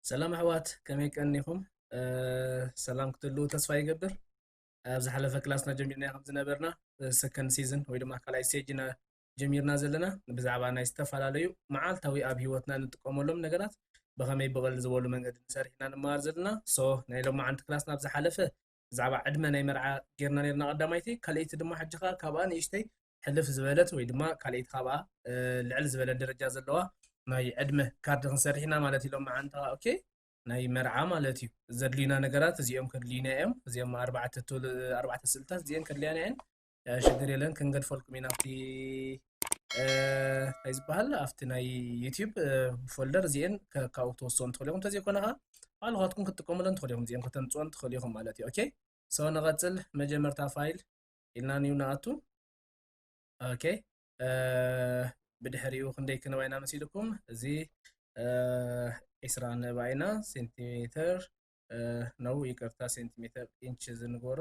ሰላም ኣሕዋት ከመይ ቀኒኹም ሰላም ክትህልው ተስፋ ይገብር ኣብ ዝሓለፈ ክላስና ጀሚርና ከም ዝነበርና ሰከንድ ሲዝን ወይ ድማ ካልኣይ ስቴጅ ኢና ጀሚርና ዘለና ብዛዕባ ናይ ዝተፈላለዩ መዓልታዊ ኣብ ሂወትና ንጥቀመሎም ነገራት ብኸመይ ብቐል ዝበሉ መንገዲ ንሰርሕ ኢና ንመሃር ዘለና ሶ ናይ ሎማዓንቲ ክላስና ኣብ ዝሓለፈ ብዛዕባ ዕድመ ናይ መርዓ ጌርና ኔርና ቀዳማይቲ ካልኣይቲ ድማ ሕጂ ከኣ ካብኣ ንእሽተይ ሕልፍ ዝበለት ወይ ድማ ካልኣይቲ ካብኣ ልዕል ዝበለ ደረጃ ዘለዋ ናይ ዕድመ ካርድ ክንሰርሕ ኢና ማለት ኢሎም መዓንታ ኦኬ ናይ መርዓ ማለት እዩ ዘድልዩና ነገራት እዚኦም ከድልዩና እዮም እዚኦም ኣርባዕተ ስእልታት እዚአን ከድልያና እየን ሽግር የለን ክንገድፈልኩም ኢና ኣብቲ እንታይ ዝበሃል ኣብቲ ናይ ዩቲዩብ ፎልደር እዚኤን ካብኡ ክትወስኦ ንትኽእሉ ኢኹም እንተዘይኮነ ከዓ ባዕልኻትኩም ክትጥቀሙለን ትኽእሉ ኢኹም እዚኤን ከተምፅኦን ትኽእሉ ኢኹም ማለት እዩ ኦኬ ሰው ንቐፅል መጀመርታ ፋይል ኢልና ንዩ ንኣቱ ኦኬ ብድሕሪኡ ክንደይ ክንባ ኢና መሲልኩም እዚ ዒስራ ንባ ኢና ሴንቲሜተር ነው ይቅርታ ሴንቲሜተር ኢንች ዝንገሮ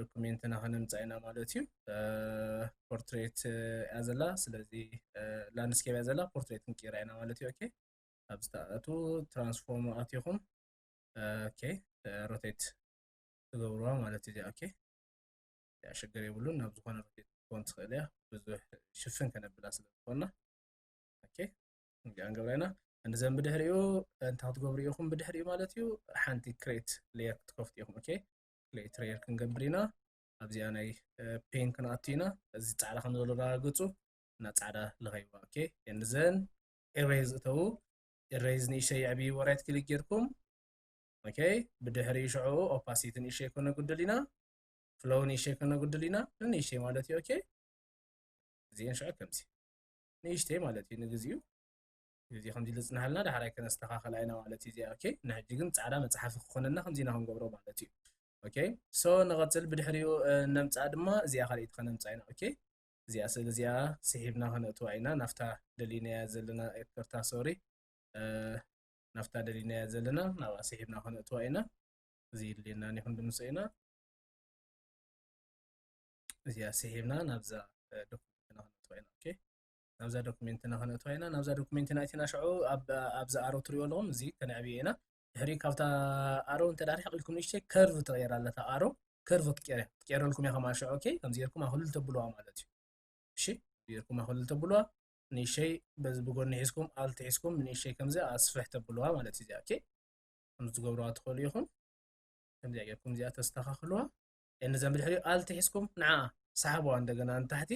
ዶኩሜንትና ከነምፃእ ኢና ማለት እዩ ፖርትሬት እያ ዘላ ስለዚ ላንድስኬፕ እያ ዘላ ፖርትሬት ክንቅይራ ኢና ማለት እዩ ኦኬ ኣብ ዝተኣቱ ትራንስፎርም ኣትኹም ኦኬ ሮቴት ትገብርዋ ማለት እዩ ኦኬ ሽግር የብሉን ናብ ዝኾነ ሮቴት ክትኮን ትኽእል እያ ብዙሕ ሽፍን ከነብላ ስለ ዝኾና ኦኬ ንገብራ ኢና እንደዘን ብድሕሪኡ እንታይ ክትገብሩ ኢኹም ብድሕሪኡ ማለት እዩ ሓንቲ ክሬት ሌየር ክትከፍቱ ኢኹም ኦኬ ክሊክ ትሬየር ክንገብር ኢና ኣብዚኣ ናይ ፔን ክንኣቱ ኢና እዚ ፃዕዳ ከም ዘሎ ዳረጋግፁ እና ፃዕዳ ለኸይዋ ኦኬ እንዘን ኤሬዝ እተዉ ኤሬዝ ንእሸይ የዕብይ ወራይት ክሊክ ጌርኩም ኦኬ ብድሕሪ ሽዑኡ ኦፓሲቲ ንእሸይ ኮነ ጉድል ኢና ፍሎው ንእሸይ ኮነ ጉድል ኢና ንእሸይ ማለት እዩ ኦኬ እዚአን ሽዑ ከምዚ ንእሽተይ ማለት እዩ ንግዚኡ እዚ ከምዚ ኢሉ ዝጽንሃልና ዳሕራይ ከነስተኻኸላ ኢና ማለት እዩ እዚኣ ኦኬ ንሕጂ ግን ጻዕዳ መጽሓፊ ክኾነና ከምዚ ኢና ክንገብሮ ማለት እዩ ኦኬ ሶ ንቐጽል ብድሕሪኡ ነምጽኣ ድማ እዚኣ ካልኣይቲ ከነምጽኣ ኢና ኦኬ እዚኣ ስእሊ እዚኣ ስሒብና ከነእትዋ ኢና ናፍታ ደሊናያ ዘለና ኤርትርታ ሶሪ ናፍታ ደሊናያ ዘለና ናብኣ ስሒብና ከነእትዋ ኢና እዚ ይድልየና ይኹን ድምሶ ኢና እዚኣ ስሒብና ናብዛ ዶክመንትና ከነእትዋ ኢና ኦኬ ናብዛ ዶክሜንትና ከነእትዋ ኢና ናብዛ ዶክሜንትና እቲና ሽዑ ኣብዚ ኣሮ ትሪእዎ ኣለኹም እዚ ከነዕብዮ ኢና ድሕሪ ካብታ ኣሮ እንተ ርሒቕ ኢልኩም ንእሽተይ ከርቭ ትቐየር ኣለታ ኣሮ ከርቭ ክትቀይር ክትቀይረልኩም እያ ከማል ሽዑ ኦኬ ከምዚ ጌርኩም ኣክልል ተብልዋ ማለት እዩ እሺ ጌርኩም ኣክልል ተብልዋ ንእሽተይ በዚ ብጎኒ ሒዝኩም ኣልቲ ሒዝኩም ንእሽተይ ከምዚ ኣስፍሕ ተብልዋ ማለት እዩ እዚኣ ኦኬ ከምዚ ትገብርዋ ትኽእሉ ኢኹም ከምዚኣ ጌርኩም እዚኣ ተስተኻኽልዋ እነዚኣ ብድሕሪኡ ኣልቲ ሒዝኩም ንዓኣ ሰሓብዋ እንደገና ንታሕቲ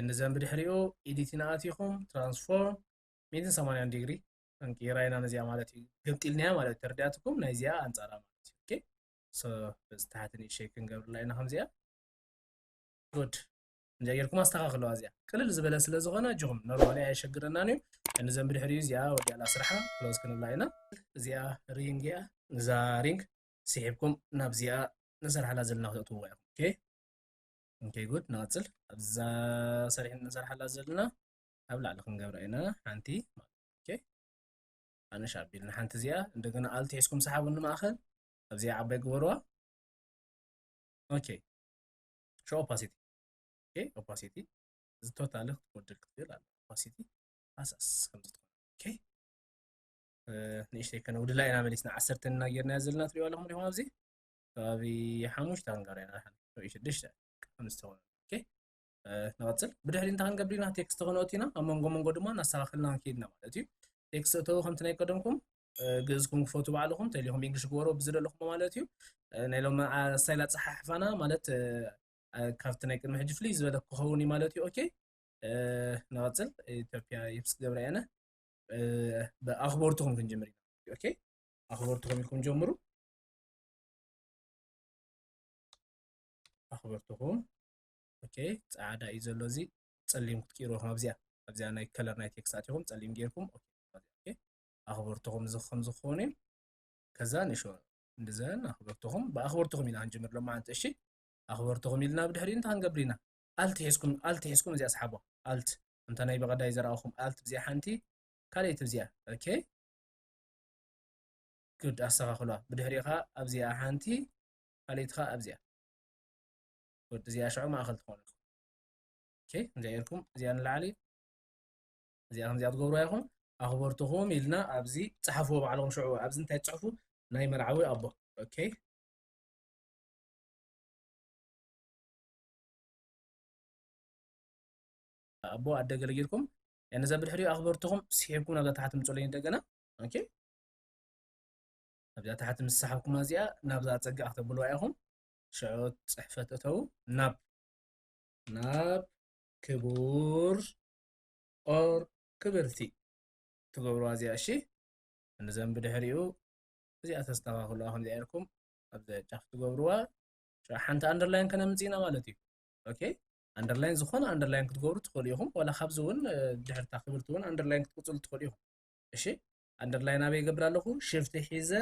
ንዘን ብድሕሪኡ ኤዲት ኢና ኣቲኹም ትራንስፎርም ሚእትን ሰማንያን ዲግሪ እንቅይራ ኢና ነዚኣ ማለት እዩ ገምጢልናያ ማለት እዩ ተረዲኣትኩም ናይ እዚኣ ኣንጻራ ማለት እዩ ኦኬ ሶ በዚ ታሕቲ ንእሸይ ክንገብርላ ኢና ከምዚኣ ጉድ እንጃ ጌርኩም ኣስተኻኽለዋ እዚኣ ቅልል ዝበለ ስለ ዝኾነ ኣጆኹም ኖርማሊ ኣየሸግረናን እዩ ንዘን ብድሕሪኡ እዚኣ ወዲኣላ ስራሓ ክሎዝ ክንብላ ኢና እዚኣ ሪንግ እያ እዛ ሪንግ ስሒብኩም ናብዚኣ ንሰርሓላ ዘለና ክትእትውዋ ኢኹም ኦኬ ኦኬ ጉድ ንቐፅል ኣብዛ ሰሪሕ ንሰርሓላ ዘለና ኣብ ላዕሊ ክንገብራ ኢና ሓንቲ ኦኬ ኣነሽ ኣቢል ንሓንቲ እዚኣ እንደገና ኣልቲ ሒዝኩም ሰሓቡ ንማእኸል ኣብዚኣ ዓባይ ግበርዋ ኦኬ ሾ ኦፓሲቲ ኦኬ ኦፓሲቲ እዚ ቶታሊ ክትጎድል ክትብል ኣለ ኦፓሲቲ ኣሳስ ከምዚ ትኾን ኦኬ ንእሽተይ ከነውድላ ኢና መሊስና ዓሰርተ እና ጌርናያ ዘለና ትሪእዋ ኣለኹም ዲኹም ኣብዚ ከባቢ ሓሙሽተ ሃንጋርያ ንሓንሳብ ሽዱሽተ ከም ዝተወነ ንቐፅል ብድሕሪ እንታይ ክንገብር ኢና ቴክስት ክንኦት ኢና ኣብ መንጎ መንጎ ድማ እናስተኻኸልና ክንከይድና ማለት እዩ ቴክስት እተው ከምቲ ናይ ቀደምኩም ግእዝኩም ክፈቱ ባዕልኹም ተሊኹም እንግሊሽ ግበሮ ብዝደለኹም ማለት እዩ ናይ ሎም ስታይል ኣፀሓሕፋና ማለት ካብቲ ናይ ቅድሚ ሕጂ ፍልይ ዝበለ ክኸውን እዩ ማለት እዩ ኦኬ ንቐፅል ኢትዮጵያ ይብስ ገብረ ያነ ብኣኽበርትኹም ክንጅምር ኢና ኦኬ ኣኽበርትኹም ኢልኩም ጀምሩ ኣኽበርትኹም ኦኬ ፃዕዳ እዩ ዘሎ እዚ ፀሊም ክትቅይርዎ ከም ኣብዚኣ ኣብዚኣ ናይ ከለር ናይ ቴክስት ኣትኹም ፀሊም ጌርኩም ኣኽበርትኹም እዚ ከም ዝኾነ እዩ ከዛ ንሾ እንደዘን ኣኽበርትኹም ብኣኽበርትኹም ኢና ክንጅምር ሎማዓንቲ እሺ ኣኽበርትኹም ኢልና ብድሕሪ እንታይ ክንገብር ኢና ኣልት ሒዝኩም ኣልት ሒዝኩም እዚኣ ስሓቦ ኣልት እንተ ናይ በቐዳይ ዘረኣኹም ኣልት ብዚኣ ሓንቲ ካልኣይቲ ብዚኣ ኦኬ good ኣስተካክሏ ብድሕሪኡ ከኣ ኣብዚኣ ሓንቲ ካልኢት ከኣ ኣብዚኣ good እዚኣ ሽዑ ማእከል ትኮነልኩም ኦኬ ከምዚኣ ኢልኩም እዚኣ ንላዕሊ እዚኣ ከምዚኣ ትገብርዋ ኢኹም ኣኽበርትኹም ኢልና ኣብዚ ጸሓፍዎ ባዕልኹም ሽዑ ኣብዚ እንታይ ትጽሕፉ ናይ መርዓዊ ኣቦ ኦኬ ኣቦ ኣደ ገለ ጌርኩም ነዛ ብድሕሪኡ ኣኽበርትኹም ስሒብኩም ናብዛ ታሕቲ ምጽለይ እንደገና ኦኬ ኣብዚኣ ታሕቲ ምስ ሰሓብኩማ እዚኣ ናብዛ ፀግዕ ክተብልዋ ኢኹም ሽዑ ፅሕፈት እተው ናብ ናብ ክቡር ኦር ክብርቲ ትገብርዋ እዚኣ እሺ እንዘን ብድሕሪኡ እዚኣ ተስተኻኽልዋ ከምዚኣ ኢልኩም ኣብዚ ጫፍ ትገብርዋ ሽዑ ሓንቲ ኣንደርላይን ከነምፅኢና ማለት እዩ ኦኬ ኣንደርላይን ዝኾነ ኣንደርላይን ክትገብሩ ትኽእሉ ኢኹም ዋላ ካብዚ እውን ድሕርታ ክብርቲ እውን ኣንደርላይን ክትቅፅሉ ትኽእሉ ኢኹም እሺ ኣንደርላይን ኣበይ ይገብር ኣለኹ ሽፍቲ ሒዘ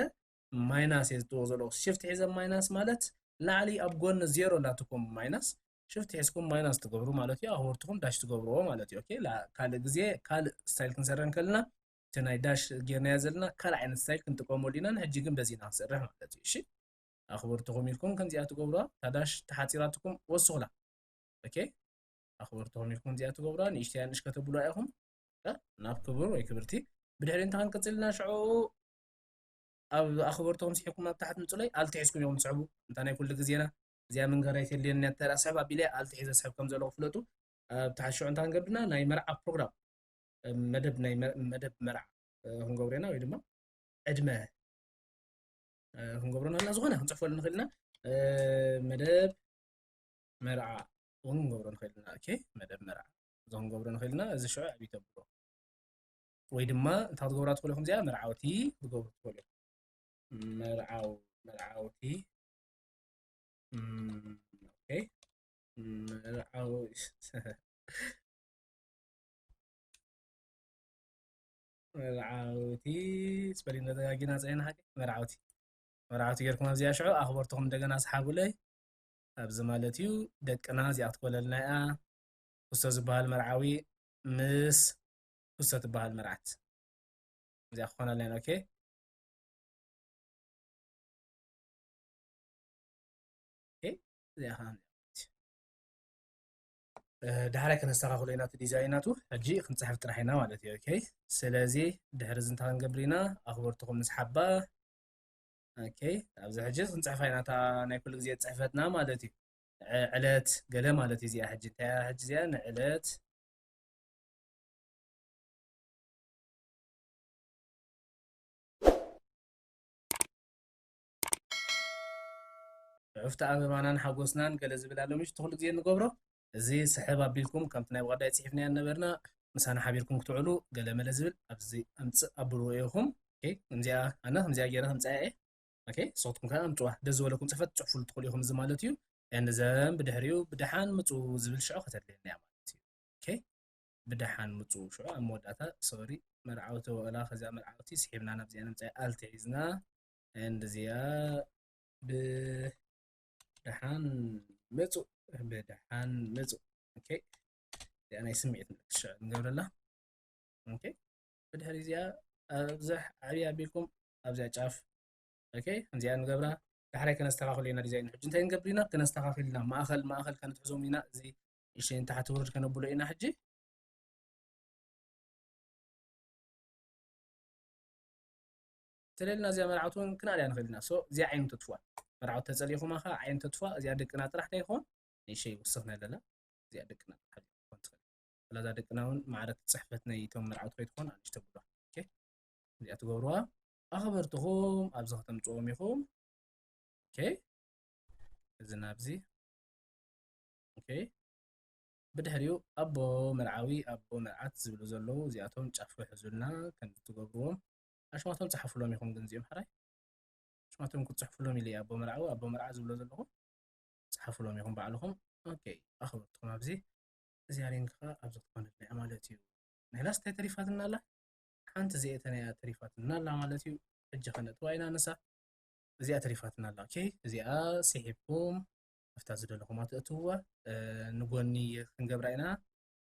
ማይናስ እየ ዝጥዎ ዘለኹ ሽፍቲ ሒዘ ማይናስ ማለት ላዕሊ ኣብ ጎኒ ዜሮ ኣላትኩም ማይናስ ሽፍቲ ሒዝኩም ማይናስ ትገብሩ ማለት እዩ ኣክበርትኩም ዳሽ ትገብርዎ ማለት እዩ ኦኬ ካልእ ግዜ ካልእ ስታይል ክንሰርሕ ከለና እቲ ናይ ዳሽ ጌርናዮ ዘለና ካልእ ዓይነት ስታይል ክንጥቀመሉ ኢና ንሕጂ ግን በዚ ኢና ክንሰርሕ ማለት እዩ እሺ ኣኽበርትኹም ኢልኩም ከምዚኣ ትገብሩዋ ታዳሽ ተሓፂራትኩም ወስኹላ ኦኬ ኣኽበርትኹም ኢልኩም ከምዚኣ ትገብሩዋ ንእሽተያ ንእሽ ከተብሉዋ ኢኹም ናብ ክቡር ወይ ክብርቲ ብድሕሪ እንተ ክንቅጽል ኢና ሽዑ ኣብ ኣኽበርትኹም ስሒብኩም ኣብ ታሕቲ ምጽለይ ኣልትሒዝኩም ኢኹም ትስሕቡ እንታ ናይ ኩሉ ግዜና እዚኣ ምንገራ ኣይተልየኒ እተ ስሕብ ኣቢለ ኣልትሒዘ ስሕብ ከም ዘለኹ ፍለጡ ኣብ ታሕቲ ሽዑ እንታ ክንገብርና ናይ መርዓ ፕሮግራም መደብ ናይ መደብ መርዓ ክንገብሮ ኢና ወይ ድማ ዕድመ ክንገብሮ ናልና ዝኾነ ክንጽሕፈሉ ንኽእል ኢና መደብ መርዓ እውን ክንገብሮ ንኽእል ኢና መደብ መርዓ እዞም ክንገብሮ ንኽእል ኢና እዚ ሽዑ ኣብ ይተብሎ ወይ ድማ እንታይ ክትገብራ ትኽእሉ ኢኹም እዚኣ መርዓውቲ ክትገብሩ ትኽእሉ መርዓው መርዓውቲ መርዓው መርዓውቲ ስፐሊን ተደጋጊና ፅዒና ሓቂ መርዓውቲ መርዓውቲ ጌርኩም ኣብዚኣ ሽዑ ኣኽበርትኹም እንደገና ስሓቡለይ ኣብዚ ማለት እዩ ደቅና እዚኣ ክትኮለልና እያ ኩስቶ ዝባሃል መርዓዊ ምስ ኩስቶ ትባሃል መርዓት እዚኣ ክኾን ኣለና ኦኬ እዚኣ ዳሕራይ ከነስተኻኽሎ ኢና እቲ ዲዛይን ናቱ ሕጂ ክንፅሕፍ ጥራሕ ኢና ማለት እዩ ኦኬ ስለዚ ድሕሪ እዚ እንታይ ክንገብር ኢና ኣኽበርትኹም ንስሓባ ኦኬ ኣብዚ ሕጂ ክንፅሕፋ ኢና እታ ናይ ኩሉ ግዜ ፅሕፈትና ማለት እዩ ዕለት ገለ ማለት እዚኣ ሕጂ እንታይ እያ ሕጂ እዚኣ ንዕለት ዕፍቲ ኣበባናን ሓጎስናን ገለ ዝብል ኣሎ ምሽ ትኩሉ ግዜ ንገብሮ እዚ ስሕብ ኣቢልኩም ከምቲ ናይ ብቀዳይ ፅሒፍናያ ነበርና ምሳና ሓቢርኩም ክትውዕሉ ገለ መለ ዝብል ኣብዚ ኣምፅእ ኣብልዎ ኢኹም ከምዚኣ ኣነ ከምዚኣ ገይረ ከምፃያ እየ ኦኬ ንስኻትኩም ከኣ ኣምጽዋ ደስ ዝበለኩም ጽሕፈት ጽሑፉሉ ትኽእሉ ኢኹም እዚ ማለት እዩ and ዘም ብድሕሪኡ ብደሓን ምጹ ዝብል ሽዑ ከተድልየና እያ ማለት እዩ ኦኬ ብደሓን ምጹ ሽዑ ኣብ መወዳእታ ሶሪ መርዓውቲ ወላ ከዚኣ መርዓውቲ ስሒብና ናብዚኣ ንምጻይ ኣልትሒዝና and እዚኣ ብደሓን ምጹ ብደሓን ምጹ ኦኬ እዚኣ ናይ ስምዒት ምልክት ሽዑ ንገብረላ ኦኬ ብድሕሪ እዚኣ ኣብዛሕ ዓብያ ኣቢልኩም ኣብዚኣ ጫፍ ኦኬ ከምዚኣ ንገብራ ዳሕራይ ከነስተኻኽሎ ኢና ዲዛይን ሕጂ እንታይ ንገብር ኢና ከነስተኻኽል ኢና ማእኸል ማእኸል ከነትሕዞም ኢና እዚ እሺ ንታሕቲ ውርድ ከነብሎ ኢና ሕጂ ስለልና እዚኣ መርዓውቲ እውን ክንኣልያ ንኽእል ኢና ሶ እዚኣ ዓይኑ ተጥፍዋ መርዓውቲ ተፀሊኹማ ከዓ ዓይኑ ተጥፍዋ እዚኣ ደቅና ጥራሕ ዶ ይኸውን ንእሸ ይውስኽና ኣለና እዚኣ ደቅና ጥራሕ ትኸውን ትኽእል ስለዛ ደቅና እውን ማዕረት ፅሕፈት ናይ እቶም መርዓውቲ ከይትኾን ኣንሽ ተብሏ እዚኣ ትገብርዋ ኣኽበርትኹም ኣብዚ ከተምፅዎም ኢኹም ኦኬ እዚ ናብዚ ኦኬ ብድሕሪኡ ኣቦ መርዓዊ ኣቦ መርዓት ዝብሉ ዘለዉ እዚኣቶም ጫፍ ክሕዙልና ከም ትገብርዎም ኣሽማቶም ፀሓፍሎም ኢኹም ግን እዚኦም ሕራይ ኣሽማቶም ክትፅሕፍሎም ኢለ ኣቦ መርዓዊ ኣቦ መርዓ ዝብሎ ዘለኹም ፀሓፍሎም ኢኹም ባዕልኹም ኦኬ ኣኽበርትኩም ኣብዚ እዚኣ ሪንግ ከዓ ኣብዚ ክትኮነልና እያ ማለት እዩ ናይናስ እንታይ ተሪፋትና ኣላ ሓንቲ ዘየተና እያ ተሪፋትና ኣላ ማለት እዩ ሕጂ ከነእትዋ ኢና ንሳ እዚኣ ተሪፋትና ኣላ ኦኬ እዚኣ ስሒብኩም ኣብታ ዝደለኹማ ተእትውዋ ንጎኒ ክንገብራ ኢና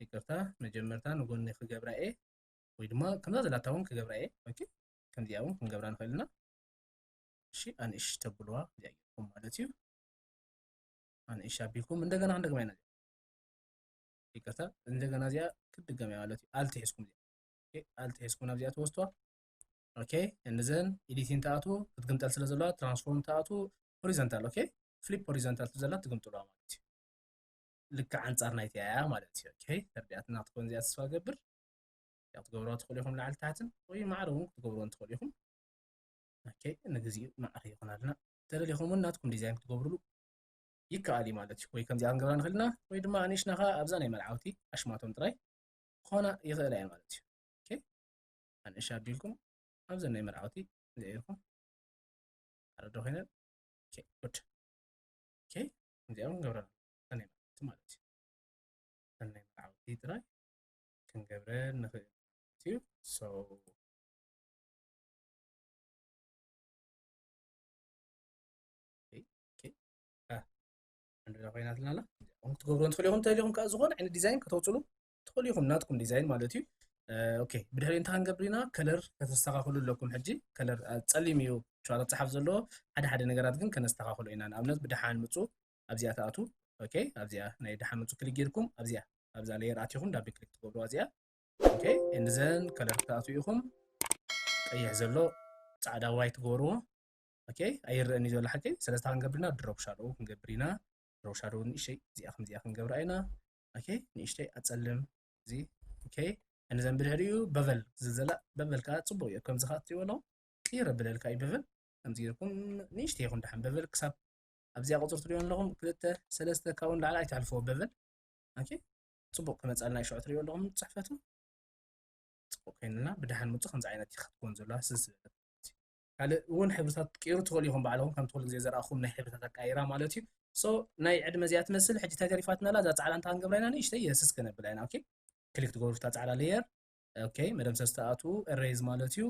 ይቅርታ መጀመርታ ንጎኒ ክገብራ እየ ወይ ድማ ከምዛ ዘላታ እውን ክገብራ እየ ኦኬ ከምዚኣ እውን ክንገብራ ንኽእል ኢና እሺ ኣንእሽ ተብልዋ እዚኣ ጌርኩም ማለት እዩ ኣንእሽ ኣቢልኩም እንደገና ክንደግማ ኢና ይቅርታ እንደገና እዚኣ ክትድገም እያ ማለት እዩ ኣልትሒዝኩም እዚኣ ኣልት ኤስ ኮና እዚኣ ትወስዶ ኦኬ እንዘን ኤዲቲን ተኣቱ ክትግምጠል ስለ ዘለዋ ትራንስፎርም ተኣቱ ሆሪዘንታል ኦኬ ፍሊፕ ሆሪዘንታል ትዘላ ትግምጥለዋ ማለት እዩ ልክዕ ኣንጻር ናይቲ ኣያ ማለት እዩ ኦኬ ተርዲኣትና ክትኮን እዚኣ ተስፋ ገብር ያው ክትገብርዋ ትኽእሉ ኢኹም ላዕሊ ታሕትን ወይ ማዕረ እውን ክትገብርዎን ትኽእሉ ኢኹም ኦኬ ንግዚኡ ማዕረ ይኹን ኣለና ተደሊኹም እውን ናትኩም ዲዛይን ክትገብርሉ ይከኣል እዩ ማለት እዩ ወይ ከምዚኣ ክንገብራ ንኽእል ኢና ወይ ድማ ኣንእሽናኻ ኣብዛ ናይ መልዓውቲ ኣሽማቶም ጥራይ ክኾና ይኽእላ እየ ማለት እዩ ኣንእሻ ኣቢልኩም ኣብዘ ናይ መርዓውቲ ዘኢርኩም ኣረዶ ኮይነን ጉድ እዚኦም ገብረና ናይ መርዓውቲ ማለት እዩ ናይ መርዓውቲ ጥራይ ክንገብረን ንኽእል እዩ ዕንድዳ ኮይናትና ኣላ ኹም ክትገብርዎ ትኽእሉ ኢኹም ተልኹም ከዓ ዝኾነ ዓይነት ዲዛይን ከተውፅሉ ትኽእሉ ኢኹም ናትኩም ዲዛይን ማለት እዩ ኦኬ ብድሕሪ እንታይ ክንገብር ኢና ከለር ከተስተኻኽሉ ኣለኩም ሕጂ ከለር ፀሊም እዩ ሸዋት ኣብፀሓፍ ዘለዎ ሓደ ሓደ ነገራት ግን ከነስተኻኽሎ ኢና ንኣብነት ብድሓን ምፁ ኣብዚኣ ትኣቱ ኦኬ ኣብዚኣ ናይ ድሓን ምፁ ክሊክ ጌርኩም ኣብዚኣ ኣብዛ ለየር ኣትኹም ዳቢ ክሊክ ትገብርዋ እዚኣ ኦኬ እንዘን ከለር ክትኣትዉ ኢኹም ቀይሕ ዘሎ ፃዕዳ ዋይ ትገብርዎ ኦኬ ኣይረኣን እዩ ዘሎ ሓቂ ስለዚ እንታይ ክንገብር ኢና ድሮፕ ሻዶው ክንገብር ኢና ድሮፕ ሻዶው ንእሽተይ እዚኣ ከምዚኣ ክንገብራ ኢና ኦኬ ንእሽተይ ኣፀልም እዚ ኦኬ እንዘን ብድሕሪኡ በቨል ዝዘላ በቨል ከዓ ፅቡቅ እዩ ከምዚ ከዓ እትሪእዎ ኣለኹም ቅይር ኣብለልካ እዩ በቨል ከምዚ ጌርኩም ንእሽተይ ይኹን ድሓን በቨል ክሳብ ኣብዚኣ ቁፅሪ ትሪእዮ ኣለኹም ክልተ ሰለስተ ካብኡ ንላዕሊ ኣይተሕልፍዎ በቨል ኦኬ ፅቡቅ ክመፃልና ይሸዑ ትሪእዮ ኣለኹም ፅሕፈቱ ፅቡቅ ኮይንና ብድሓን ምፁ ከምዚ ዓይነት እዩ ክትኮን ዘለዋ ስዝበለ ካልእ ውን ሕብርታት ክትቅይሩ ትክእሉ ኢኩም ባዕልኩም ከምቲ ኩሉ ግዜ ዘረኣኩም ናይ ሕብርታት ኣቀያይራ ማለት እዩ so ናይ ዕድመ እዚኣ ትመስል ሕጂ እንታይ ተሪፋትና ኣላ እዛ ጻዕዳ እንታይ ክንገብራ ኢና ንእሽተይ የስስ ከነብላ ኢና ኦኬ ክሊክ ትገብሩ ፍታ ጻዕዳ ሌየር ኦኬ መደምሰስ ትኣትዉ ኤሬዝ ማለት እዩ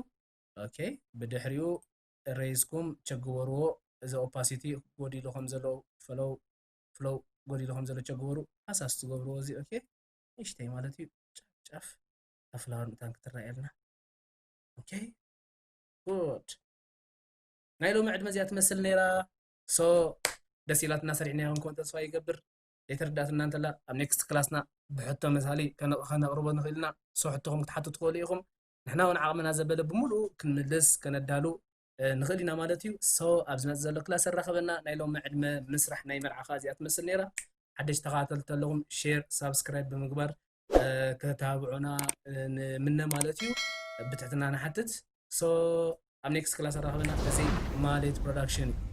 ኦኬ ብድሕሪኡ ኤሬዝኩም ቸግበርዎ እዚ ኦፓሲቲ ጎዲሉ ከም ዘሎ ፈሎው ፍሎው ጎዲሉ ከም ዘሎ ቸግበሩ ሃሳስ ትገብርዎ እዚ ኦኬ ንእሽተይ ማለት እዩ ጫፍ ጫፍ ኣፍላወር ምታን ክትረኣየልና ኦኬ good ናይ ሎሚ ዕድመ እዚኣ ትመስል ነይራ ሶ ደስ ኢላትና ሰሪሕናዮ ክንከውን ተስፋ ይገብር ዘይተረዳእትና እንተላ ኣብ ኔክስት ክላስና ብሕቶ መሳሊ ከነቕርቦ ንኽእል ኢና ሶ ሕቶኹም ክትሓቱ ትኽእሉ ኢኹም ንሕና እውን ዓቕምና ዘበለ ብምሉኡ ክንምልስ ከነዳሉ ንኽእል ኢና ማለት እዩ ሶ ኣብ ዝመፅእ ዘሎ ክላስ ኣራኸበና ናይ ሎሚ ዕድመ ምስራሕ ናይ መርዓኻ እዚኣ ትመስል ነይራ ሓደሽ ተኸታተልቲ ኣለኹም ሼር ሳብስክራይብ ብምግባር ከተተባብዑና ንምነ ማለት እዩ ብትሕትና ንሓትት ሶ ኣብ ኔክስት ክላስ ኣራኽበና እዚ ማሌት ፕሮዳክሽን እዩ